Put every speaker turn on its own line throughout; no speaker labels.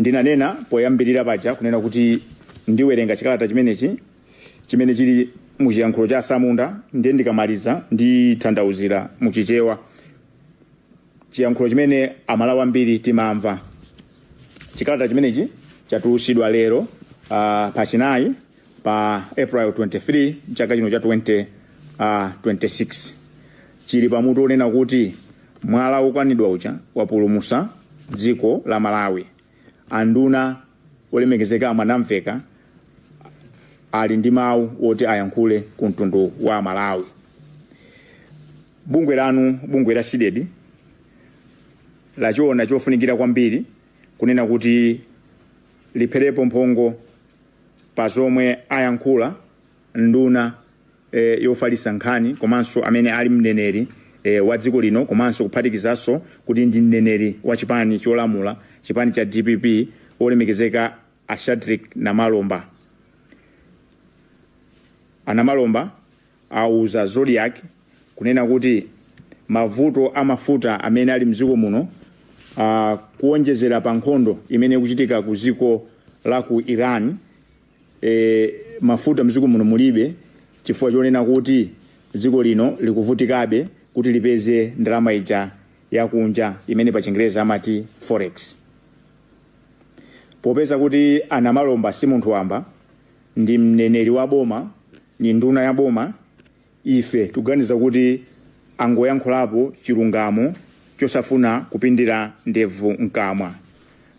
ndinanena poyambirira paja kunena kuti ndiwerenga chikalata chimenechi chimene chili mu chiyankhulo cha asamunda ndiye ndikamaliza nditanthauzira mu chichewa chiyankhulo chimene amalawi ambiri timamva chikalata chimenechi chatulusidwa lero uh, pachinayi pa April 23 mchaka chino cha 20, uh, 26 chili pamutu onena kuti mwala wokanidwa uja wapulumusa dziko la Malawi. Anduna olemekezeka a Mwanamvekha ali ndi mawu woti ayankhule ku mtundu wa Malawi. Bungwe lanu bungwe la CDEDI lachiona chofunikira kwambiri kunena kuti lipherepo mphongo pa zomwe ayankhula nduna e, yofalitsa nkhani komanso amene ali mneneri e, wa dziko lino komanso kuphatikizanso kuti ndi mneneri wa chipani cholamula chipani cha dpp olemekezeka a Shadric namalomba a Namalomba auza Zodiak kunena kuti mavuto a mafuta amene ali mdziko muno uh, kuonjezera pa nkhondo imene ikuchitika ku dziko la ku Iran e, mafuta mdziko muno mulibe chifukwa chonena kuti dziko lino likuvutikabe kuti lipeze ndalama ija yakunja imene pa chingerezi amati forex popeza kuti a Namalomba si munthu wamba ndi mneneri wa boma ndi nduna ya boma ife tuganiza kuti angoyankhulapo chilungamo chosafuna kupindira ndevu mkamwa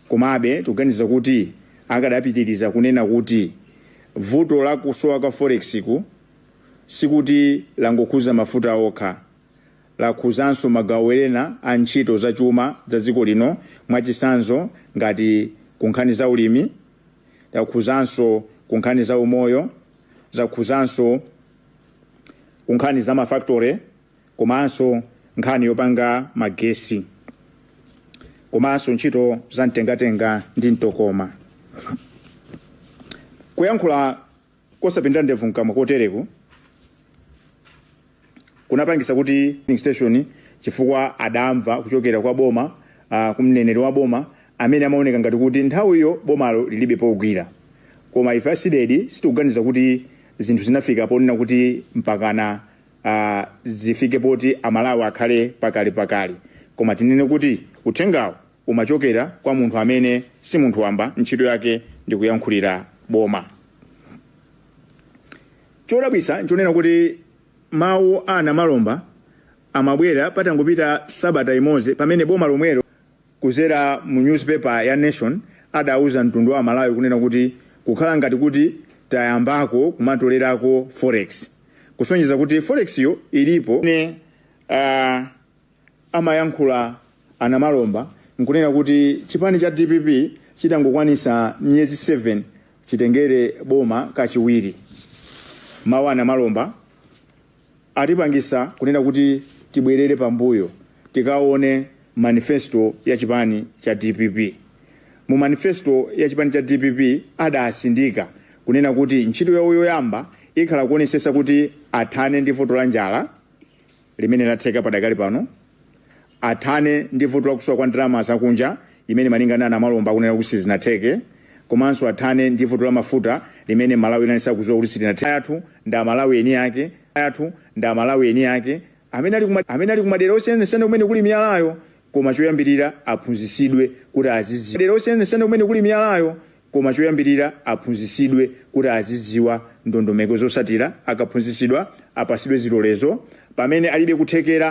komabe tuganiza kuti akadapitiriza kunena kuti vuto la kusowa kwa forexku sikuti langokhuza mafuta okha lakhuzanso magawo ena a ntchito za chuma za dziko lino mwachisanzo ngati kunkhani za ulimi lakhuzanso kunkhani za umoyo zakhuzanso ku nkhani za mafactory komanso nkhani yopanga magesi komanso ntchito za mtengatenga ndi mtokoma kuyankhula kosapindira ndevu mkamwa kotereku kunapangisa kuti filling station chifukwa adamva kuchokera kwa boma uh, kumneneri wa boma amene amaoneka ngati kuti nthawiyo bomalo lilibe pogwira koma ife a CDEDI sitikuganiza kuti zinthu zinafika ponena kuti mpakana uh, zifike poti amalawi akhale pa kakasi koma tinene kuti uthengawo umachokera kwa munthu amene si munthu wamba ntchito yake ndi kuyankhulira boma Chodabwitsa n'chonena kuti mawu a Namalomba amabwera patangopita sabata imodzi pamene boma lomwelo kudzera mu newspaper ya Nation adauza mtundu wa Amalawi kunena kuti kukhala ngati kuti tayambako kumatolerako forex kusonyeza kuti forex yo ilipo. Ine Amayankhula a Namalomba nkunena kuti chipani cha dpp chitangokwanisa miyezi 7 chitengere boma kachiwiri. Mawu a Namalomba atipangisa kunena kuti tibwerere pambuyo tikaone manifesto ya chipani cha dpp. Mu manifesto ya chipani cha dpp adasindika kunena kuti ntchito yawo yoyamba ikhala kuonesesa kuti athane ndi vuto la njala, limene latheka padakali pano, athane ndi vuto la kusowa kwa ndalama zakunja imene malinga ndi a Namalomba akunena kuti sizinatheke komanso athane ndi vuto la mafuta limene Malawi inali sakudziwa kuti silinatheke. Athu ndi Amalawi eni ake amene ali kumadera osiyanasiyana kumene kuli miyalayo koma choyambirira aphunzitsidwe kuti a- kumene kuli miyalayo Koma choyambirira aphunzitsidwe kuti azidziwa ndondomeko zotsatira, akaphunzitsidwa apasidwe zilolezo, pamene alibe kuthekera